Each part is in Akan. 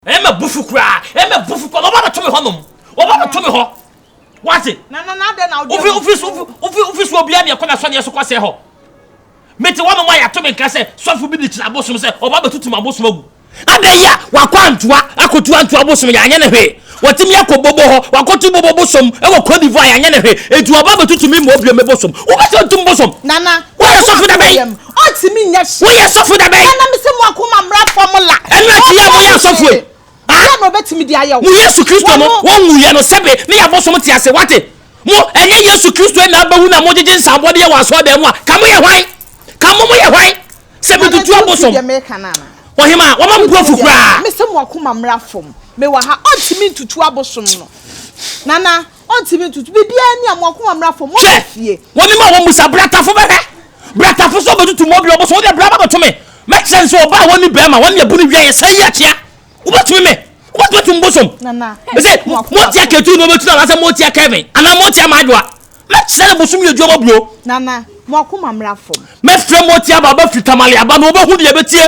Ɛyɛ ma bufu koraa. Ɛyɛ ma bufu koraa. Wɔba bɛto me hɔ nom. Wɔba bɛto me hɔ. Wate? Na na na dɛn na wode ofi ofi so ofi ofi so obiara deɛ kɔ na sɔdeɛ so kɔsɛ hɔ. Mete hɔ nom a yɛato me nka sɛ sɔfo bi de kyerɛ abosom sɛ ɔba bɛtutum abosom agu. Na da yi a wakɔ antoa akɔtu antoa abosom yɛanyɛ ne hwee. Watumi akɔ bobo hɔ wakɔto bobo bosom wɔ Cote d'Ivoire yɛanyɛ ne hwee. Enti wɔba bɛtutu me mmɔ bio me bosom. Wopɛ sɛ wotum bosom? Nana, Woyɛ sɔfo da bɛn? Ɔntumi nyɛ hwee. Woyɛ sɔfo da bɛn? Ɛna na mese mo akoma mmra fam la. Ɛno akyi yɛ a moyɛ asɔfo yi. Deɛ na ɔbɛtumi de ayɛ wo? Mo Yesu Kristo no, wɔnwuiɛ no sɛbe ne yɛabosom te ase. Woate? Mo, ɛnyɛ Yesu Kristo yi na abɛwu na mogyegye nsabɔdeɛ wɔ asɔredan mu a, ka moyɛ hwan? Ka mo moyɛ hwan? Sɛ metutu abosom. Ɔhemaa, wɔma me bo afu koraa. Mese mo akoma mmra fam. Mewɔ ha. Ɔntumi ntutu abosom no. Nana. Ɔntumi ntutu biribiara nni a mo akoma mmra fam, mo Hwɛ! fie. Wɔnim a wɔmmisa. Bratafo bɛhwɛ. Bratafo nso bɛtutu mo ɔbea ɔbosom. Wodeɛ, bra bɛboto me. Mɛkyerɛ no sɛ ɔbaa a ɔnni barima, wɔne abu no wiaeɛ sɛɛ yi akyea. Wobɛtumi me? Wobɛtumi atu me bosom? Nana, Me se, mo akoma motia fam. Ketu na ɔbɛtu no anaasɛ motia Kevin? Anaa motia Maadwoa? Mɛkyerɛ no bosom yɛ adwuma bɔbro. Nana, mo akoma mmra fam. Mɛfrɛ motia aba, ɔbɛfiri Tamale aba na ɔbɛhu deɛ ɛbɛtie.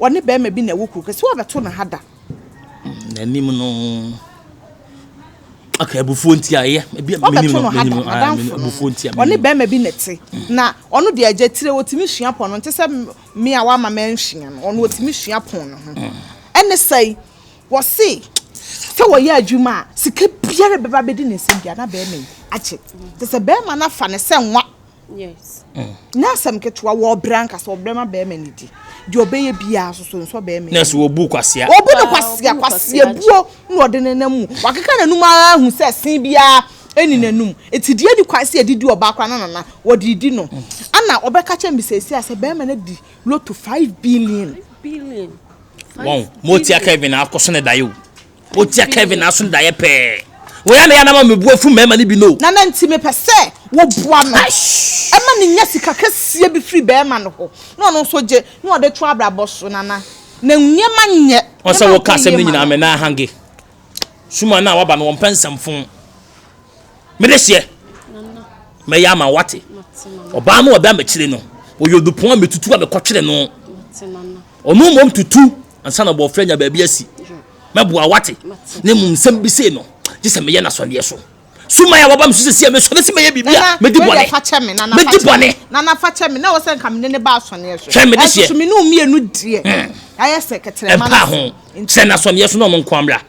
ɔne barima bi na ɛwɔ kuro kɛse. So wabɛto no ha da? N'anim no. Okay, abufuo nti a ɛyɛ. Ebi a menim no, menim no, ah, menim abufuo nti a. Ɔne barima bi na ɛte. Na ɔno deɛ agya tire, ɔtumi sua pɔn no. Nte sɛ me a wama mɛnsua no, ɔno ɔtumi sua pɔn no ho. Ɛne sɛe, wɔse sɛ wɔyɛ adwuma a, sika biara bɛba bɛdi ne nsɛm biara na barima yi agye. Te sɛ barima no afa ne sɛ nwa. Yes. Mm. Na asɛm ketewa wɔ ɔbrɛ ankasa ɔbrɛ ma bɛrima ne di. Deɛ ɔbɛyɛ biara soso nsɔ bɛrima. Na so wɔbu kwasia. Wɔbu ne kwasia kwasia buo na ɔde ne nam mu. Wakeka n'anum ara ahu sɛ sen biara ɛni n'anum. Eti deɛ ɛni kwan sɛ yɛde di ɔbaa koraa na nana wɔde di no. Ana ɔbɛka kyɛ mbisɛsi a sɛ bɛrima no di loto five billion. Billion. Wɔn mo tia Kevin akɔso ne dayo. wotia kevin aso no daeɛ pɛɛ wɔyɛ na yɛnama mebu afu mmarima no bi no na na nti mepɛ sɛ woboa no ɛma ne nya sika kɛseɛ bi firi bɛrima no hɔ na ɔno nso gye na ɔde to abrabɔ so nana na nneɛma nyɛ ɔsɛ woka asɛm no nyinaa mɛ na ahange suma no a waba no wɔmpɛ nsɛmfo Mede seɛ mɛyɛ ama wate. Ɔbaa no a ɔda m'akyire no, ɔyɛ odupɔn a metutu a mekɔtwere no. Ɔno mmom tutu ansa na bɔɔfrɛ nya baabi asi. Mɛboa wate. Ne mmom nsɛm bi sei no, gye sɛ meyɛ n'asɔdeɛ so. Suman a waba me so sɛsi a mesɔre sɛ mɛyɛ biribi a medi bɔne. Medi bɔne. Nana fa kyɛ me na wɔ sɛ nka mene ne ba asɔneɛ so. Hwɛ mede seɛ. Ɛsoso me ne mmienu deɛ. Hmm. Ayɛ sɛ kɛtɛrɛma no. Ɛmpa ho. Sɛ n'asɔneɛ so na ɔno nko amra.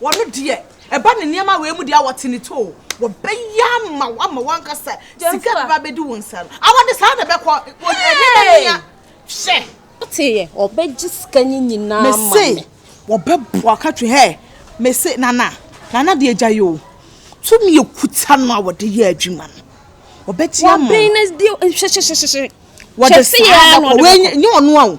Wɔn deɛ, ɛba ne nneɛma wei mu deɛ a, wɔte ne too. Wɔbɛyɛ ama wo ama w'ankasa sika bɛba abɛdi wo nsa no. Awɔ de saa na ɛbɛkɔ. Ɛnyɛ dɛ no nya. Hwɛ. Woteeɛ, wɔbɛgye sika no nyinaa ama me. Mese wɔbɛboa ka twi hɛ. Mese Nana, Nana deɛ gya yi o. Tumi a ɔkuta no a wɔde yɛ adwuma no, wɔbɛgye ama wo. Wɔbɛn no deɛ, hwɛ hwɛ hwɛ hwɛ. Wɔde saa na ɛbɛkɔ. Wei nyɛ ɔno a o.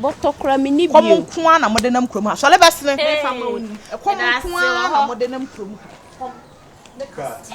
Bɔtɔ kora me ni bio. Kɔm nko ara na mode nam kurom ha. Sɔre bɛsene. Hey, Kɔm nko ara na mode nam kurom ha. Kɔm ne kasa.